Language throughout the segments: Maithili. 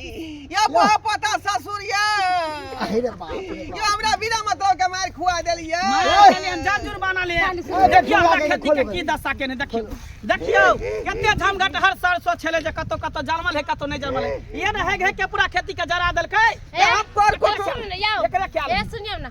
या बुआ पता ससुर या अरे रे बाप रे यो हमरा बिना मतलब के मार खुआ देलियै मार देलियै जाजुर बना ले देखियो हमरा खेती के की दशा केने देखियो देखियो कते झमघट हर साल सो छले जे कतो कतो जलमल है कतो नहीं जलमल है ये न है के पूरा खेती के जरा देलकै आप पर कुछ एकरा क्या ए सुनियो ना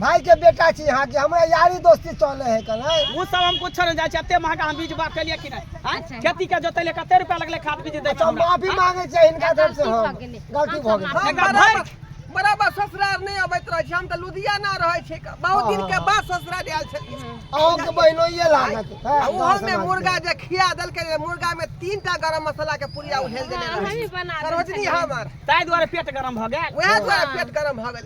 भाई के बेटा छी यहाँ के हमरा यारी दोस्ती चले है कल वो सब हम कुछ नहीं जाए एते महंगा हम बीज बाग के लिए कि नहीं हाँ? अच्छा। खेती के जोते ले कते रुपया लगले खाद बीज दे तो माफी मांगे छै इनका तरफ से हम गलती भ गेल एकरा भाई बराबर ससुराल नहीं अबैत रहे छै हम त लुधियाना रहे छै बहुत दिन के बाद ससुराल आयल छै अहो के बहिनो ये लागत है ओहो में मुर्गा जे खिया देल के मुर्गा में तीन टा गरम मसाला के पुड़िया उहेल देने रहे सरोजनी हमर ताई द्वारा पेट गरम भ गेल वएह द्वारा पेट गरम भ गेल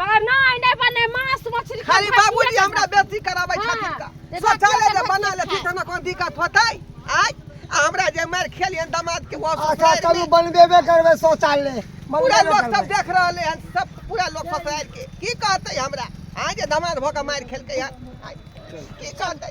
नहीं नहीं बने मांस मछली खाली बाबूजी हमरा बेसी कराबै हाँ, छथिन का देखा सोचा ले जे बना लेती त हमरा कोन दिक्कत होतै आज आ हमरा जे मार खेलियन दामाद के वापस अच्छा चलू बनबेबे करबै शौचालय पूरा लोग सब देख रहले हन सब पूरा लोग फसायल के की कहतै हमरा आज दामाद भोका मार खेलकै यार की कहतै